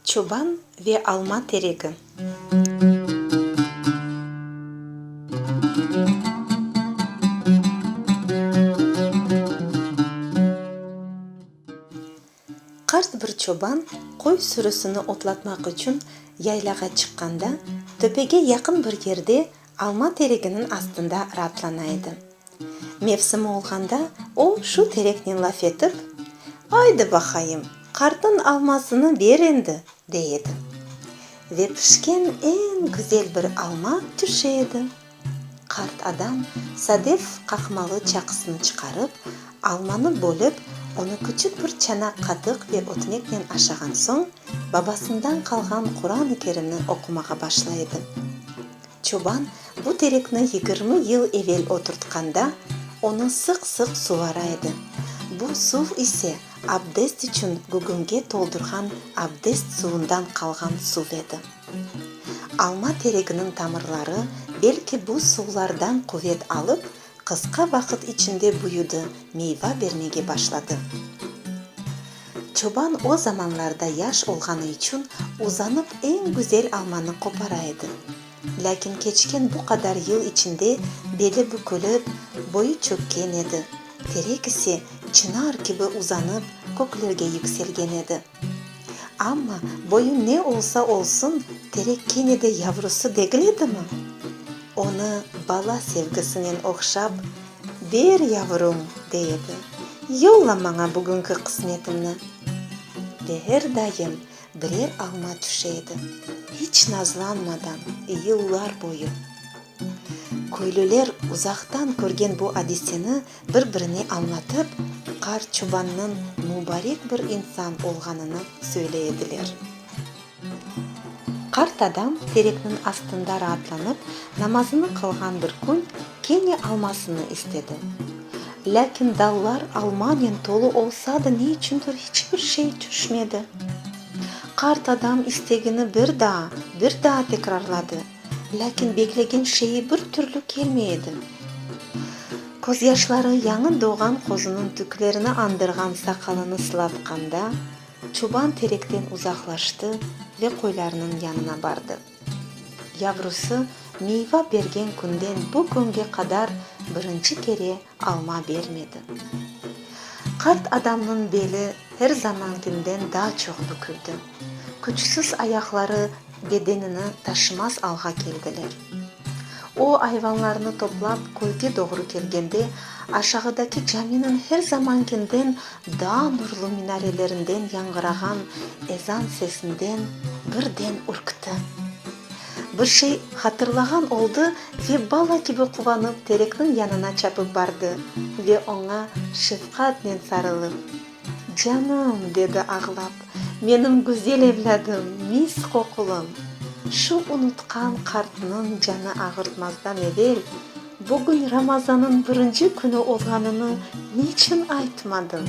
Çoban ve alma teregi. Qart bir çoban qoy sürüsini otlatmaq içün yaylağa çıqqanda, töpege yaqın bir yerde alma tereginiñ astında raatlana edi. Mevsimi olğanda o, şu tereknen laf etip, Aydı baqayım, qartnıñ almasını ber endi! dey edi. Ve pişken eñ güzel bir alma tüşe edi. Qart adam sadef qaqmalı çaqısını çıqarıp, almanı bölip, onı küçük bir çanaq qatıq ve ötmeknen aşağan soñ, babasından qalğan Quran-ı Kerimni oqumağa başla edi. Çoban bu terekni yigirmi yıl evel oturtqanda, onı sıq-sıq suvara edi. Bu suv ise abdest içün gügümge toldurğan abdest suvundan qalğan suv edi. Alma tereginiñ tamırları belki bu suvlardan quvet alıp, qısqa vaqıt içinde büyüdi, meyva bermege başladı. Çoban o zamanlarda yaş olğanı içün uzanıp eñ güzel almanı qopara edi. Lâkin keçken bu qadar yıl içinde beli bükülip, boyu çökken edi, terek ise çınar kibi uzanıp, köklerge yükselgen edi. Amma boyu ne olsa olsun, terek kene de yavrusı degil edimi? Onı bala sevgisinen oqşap, Ber, yavrum, dey edi, yolla maña bugünki qısmetimni. Beher dayım birer alma tüşe edi, hiç nazlanmadan, yıllar boyu. Köylüler uzaqtan körgen bu adiseni Bir-birine añlatıp, Qar çubannıñ mubarek bir insan olğanını söyle ediler. Qart adam terekniñ astında raatlanıp namazını qılğan bir kün kene almasını istedi. Lâkin dallar almanen tolu olsa da ne içündir hiç bir şey tüşmedi. Qart adam istegini bir daa, bir daa tekrarladı. Lâkin beklegen şeyi bir türlü kelmey edi. Közyaşları yañı doğğan qozunıñ tüklerini añdırğan saqalını sılatqanda, çoban terekten uzaqlaştı ve qoylarnıñ yanına bardı. Yavrusı miyva bergen künden bu künge qadar birinci kere alma bermedi. Qart adamnıñ beli her zamankinden daa çoq büküldi. Küçsiz ayaqları bedenini taşımaz alğa keldiler. O, ayvanlarnı toplap, köyge doğru kelgende, aşağıdaki caminiñ her zamankinden daa nurlu minarelerinden yañğırağan ezan sesinden birden ürkti. Bir şey hatırlağan oldı ve bala kibi quvanıp terekniñ yanına çapıp bardı ve oña şefqatnen sarılıp. Canım, dedi ağlap, menim güzel evlâdım, mis qoqulım! Şu unutqan qartnıñ canı ağırtmazdan evel, bugün Ramazanıñ birinci künü olğanını niçün aytmadın?